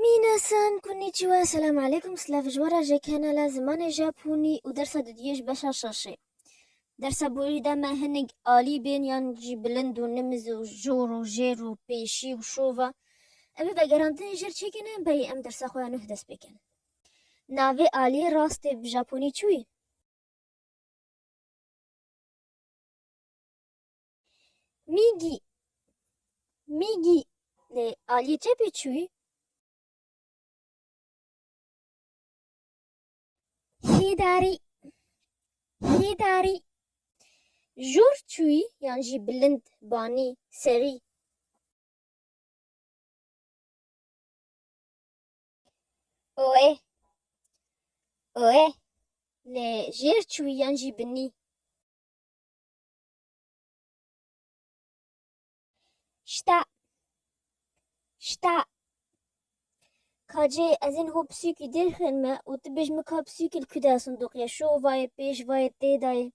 Minasan, konnichiwa, selam aleykum, silav ji we re ji kanala Zimanê Japonî û dersa dudiyê ji beşa şaşê. Dersa borî da me hinek alî bên yan jî bilind û nimiz û jor û jêr û pêşî û şova. Em ê vegerandinê jêr çêkine berî em dersa xwe ya nuh dest pê kin. Navê aliyê rastê bi Japonî çi wî? Mîgî, mîgî lê aliyê çepê çûyî. Hêdarî, hêdarî jor çûyî yan jî bilind, banî, serî. Oê, oê lê jêr çûyî yan jî binî. Şta. Şta. Kacê ez ên ho pisûkî dêr xên me û tu bêj min ka pisûkî li ku de ye sindoqê şo û vayê pêş vayê tê dayê.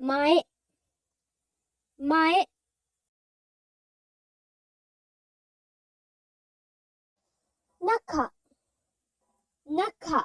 Mayê. Mayê. Naka. Naka.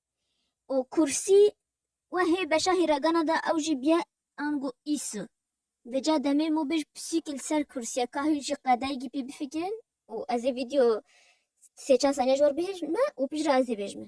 û kursî we hê beşa hîragana de ew jî bîye ango îsu. Di ca demê mû bêj pisîk li ser kursiya ka hûn jî qedayîgî pê bifikirin û ez ê vîdeo sê çar saniye ji we re bihêjim me û piştre ez ê bêjme.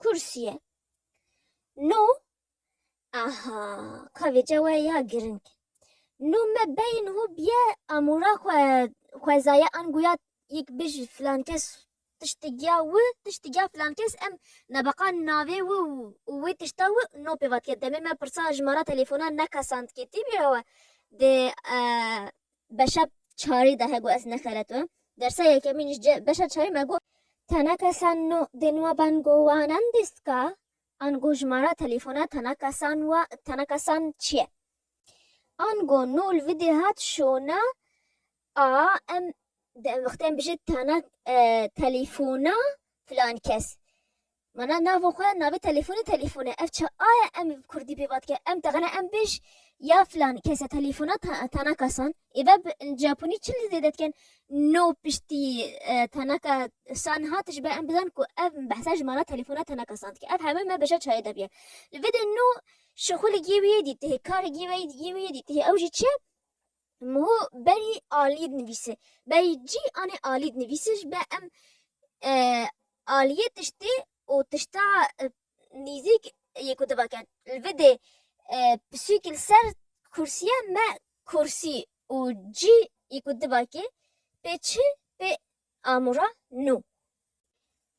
Kursiyê. No aha ka vêce we ya giring. No me beyin ho biye amûra xwe xwezaye an guya yek bêj filan kes tiştê giya wi tiştê giya filan kes em nebeqa navê wi û wê tişta wi no pêvatike demê me pirsa ji mara telefona neka sandketî bîra we dê Beşa çarî de he got ez nexeretme. Dersa yekemîn îş cih beşa çarî me got. Teneke san no dê nua ben go wanan dîstka an go jimara telîfona teneke san wa teneke san çi ye? An go no li vidê hat şona a em di em wextê em bijî tenek telîfona filan kes. Mana navo xwe navê telefoni telefone ev çi aye em bi kurdî pê vatike em texine em bêj ya filan kese telefona tanaka san êve bi japonî çi li zêde dikin no piştî tanaka san hat ji ber em bizan ku ev behsa ji mana telefona tanaka san dike ev hemû me beşa çayê de bûye li vê de no şixulî gê wî yê dîtihê karê gê wî yê dîtihê ew jî çi ye Muhu berî aliyê dinivîse. Berî cî anê aliyê dinivîse ji ber em aliyê tiştê û tişta nîzîk yê ku divake. Li vê dê pisûkî li ser kursîye me kursî û cî yê ku divake pê çi pê amûra nû.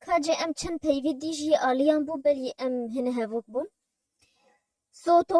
Kacê em çend peyvî dî jî aliyan bû belî em hinî hevok bûn. Soto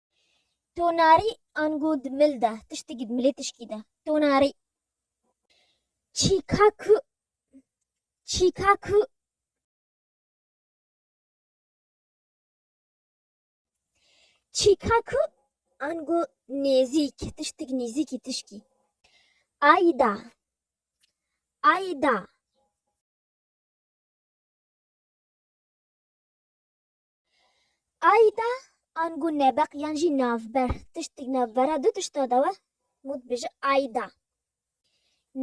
Tonarî ango di mil de tiştekî di milê tişkî de. Tonarî. Çîka ku çîka ku çîka ku ango nêzîk tiştek nêzîkî tişkî. Ayda ayda. Ayda angu nebeq yan jî navber tiştik navbera du tişta dawe mû dibêje ayda.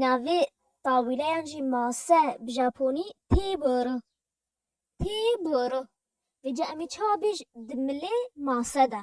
Navê tawîle yan jî mase bi japonî têboro. Têboro. Vê ca emî çawa bêj di milê mase de.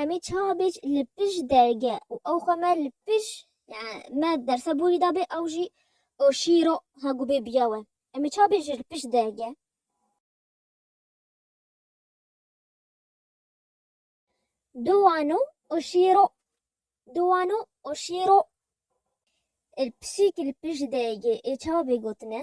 Em ê çawa bê li pişt derge û ew xwe me li pişt yani me derse borî dabê ew jî o şîro hegu bê biya we. Em ê çawa bê ji li pişt derge. Do wano o şîro do wano o şîro il pisîk li pişt derge ê çawa bê gotine.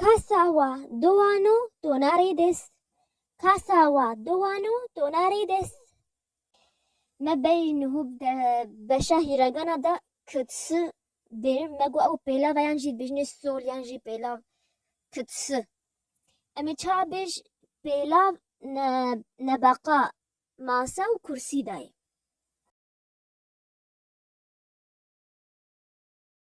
Kasa wa du wan û donarê dest. Kasa wa du wan û donarê dest. Me bey nuhu de beşa hîregana da kitsi dê. Me got ew pêlav e yan jî dibêjinê sol yan jî pêlav kitsi. Em ê çawa bêj pêlav ne ne beqa masa û kursî dayê.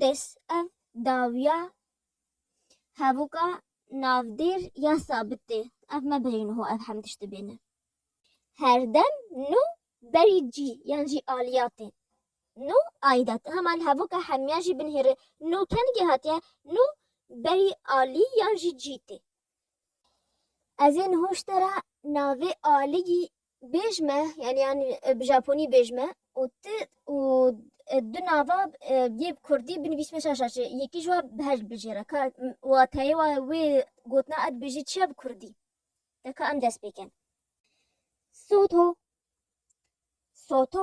Dest ev dawiya hevûka navdêr ya sabit tê. Ev me berî niho ev hem tişt dibêne. Her dem nû berî cî yan jî aliya tê. Nû ayda tê. Hema li hevûka hemiyan jî binhêre nû kengê hatiye nû berî alî yan jî cî tê. Ez ê niho ji te re navê aliyî Bêj me yani yan bi japonî bêj me û ti û du nava yê bi kurdî binivîsme şaşa çi yekî ji wa bi heşt bijêre ka wateyê wa wê gotina ez dibêjî çi ye bi kurdî de ka em dest pêkin. Soto soto.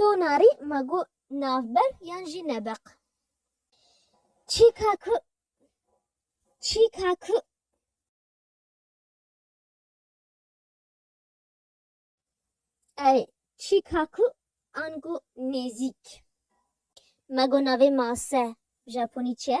To narî me got navber yan jî nebeq. Çîka ku çîka ku. Erê çîka ku ango nêzîk. Me got navê mase bi japonî çi ye?